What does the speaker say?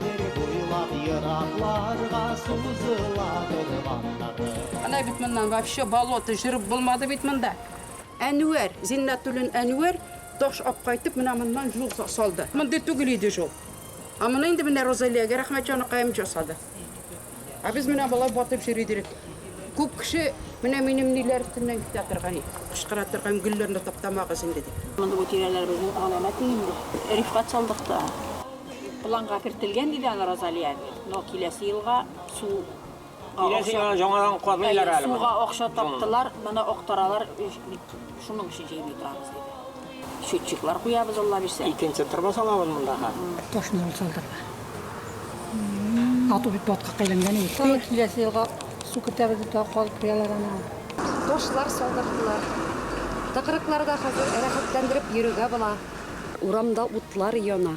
Бер буйлап еракларга сузыла урманнары. Әнә бит моннан вообще болото, җыр булмады бит монда. Әнвәр, Зиннәтуллин Әнвәр таш алып кайтып, менә моннан юл салды. Мондый түгел иде җул. Ә моны инде менә Розалиягә рәхмәт, җаныкаем, җасады. Ә без менә болай батып йөри идек. Күп кеше менә минем ниләр өстеннән китә торган, кычкыра торган, гөлләрне таптамагыз инде дип. Монда бу тирәләребезнең галәмәте инде. Рифкать салдык та. Планга кертелгән иде аны Розалия әби, но киләсе елга су Киләсе елга яңадан казыйлар әле моны. Суга акча таптылар, моны актаралар, шуның өчен җыймый торабыз диде. Счетчиклар куябыз, Алла бирсә. Икенче тырба салабыз мондага. Ташны ул салдырга. Ату бит батка кайланган ул. Тагы киләсе елга су көтәбез дип тагы калып куялар аны. Ташлар салдырдылар. Тыкрыкларда хәзер рәхәтләндереп йөрергә була. Урамда утлар яна.